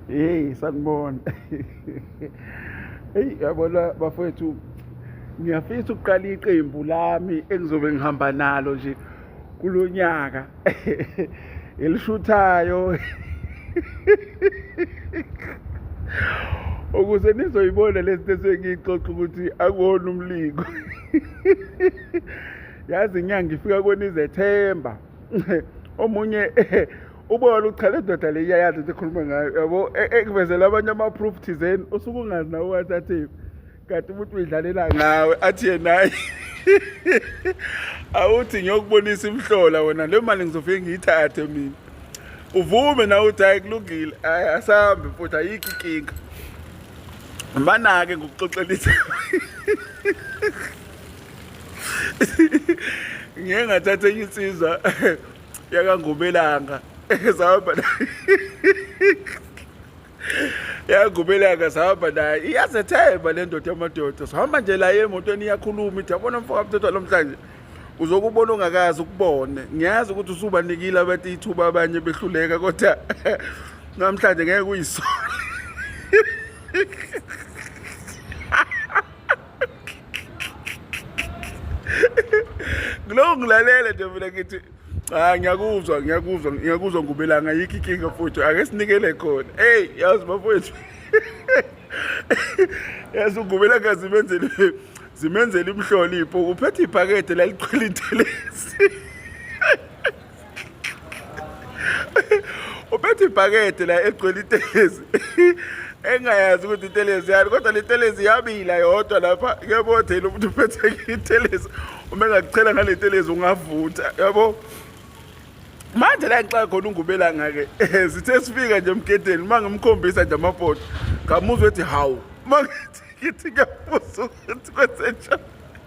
hey sanibona hey yabona bafowethu ngiyafisa ukuqala iqembu lami engizobe ngihamba nalo nje kulonyaka elishuthayo ukuze nizoyibona lento esengiyixoxa ukuthi akuwona umlingo yazi inyanga ifika kwenizethemba omunye ubona uchala indoda le iyayazi into ekhuluma ngayo yabo e- ekuvezela abanye ama-proof thizeni usuke ungazi nawe wathi athi kanti umuntu uyidlalela ngawe athi yenaye awuthi ngiyokubonisa imhlola wena le mali ngizofike ngiyithathe mina uvume nawe uthi hayi kulungile hayi asambe futhi ayikho inkinga banake ngokuxoxelisa ngeke ngathatha enye insizwa yakangubelanga sahamba yagubeleka sahamba naye iyazethemba le ndoda yamadoda sihamba nje la emotweni iyakhuluma ithi yabona mfoka mthethwa lomhlanje uzokubona ongakazi ukubone ngiyazi ukuthi usubanikile abathi ithuba abanye behluleka kodwa namhlanje ngeke uyisole Ngilokhu ngilalele nje mina ngithi cha ngiyakuzwa ngiyakuzwa ngiyakuzwa ngubelanga yikho inkinga futhi ake sinikele khona eyi yazi bafowethu yazi ungubelanga zimenzele zimenzele imhlonipho uphethe iphakethe laligcwele intelesi uphethe ibhakede la egcwele itelezi engayazi ukuthi itelezi yani kodwa le telezi yabila yodwa lapha kuyabo thela umuntu uphethe itelezi uma engakuchela ngale telezi ungavutha yabo manje la ngixaka khona ungubelanga-ke sithe sifika nje emgedeni uma ngimkhombisa nje amapoto ngamuzwa ethi hawu uma ngithi ngithi ngiyabuza ukuthi kwenzenjani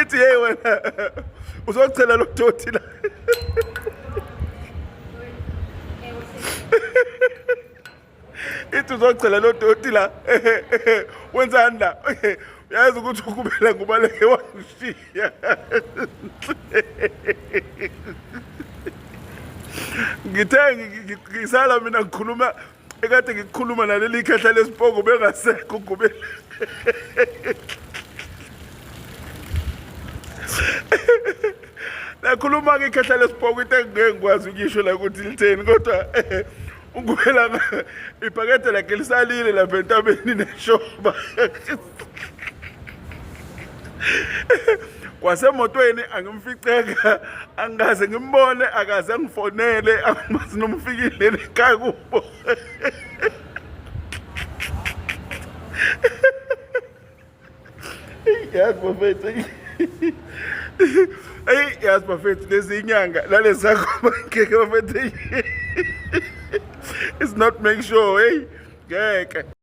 ithi hey wena uzochela lo doti la ithi uzochela lo doti la wenzani la yazi ukuthi ukubela ngubaleke wangishiya ngithe ngisala mina ngikhuluma ekade ngikukhuluma naleli khehla lesipoko bengasekho ugubele lakhuluma-ke ikhehla lesipoko into engingeke ngikwazi ukuyisho la ukuthi litheni kodwa ugubela ibhakede lakhe lisalile lapha entabeni neshoba kwasemotweni angimficeka angikaze ngimbone akaze angifonele angimazi nomfikile ekhaya kubo yazi bafethu eyi yazi bafethu lezi inyanga nalezi zakhoma ngeke bafethu it's not make sure hey ngeke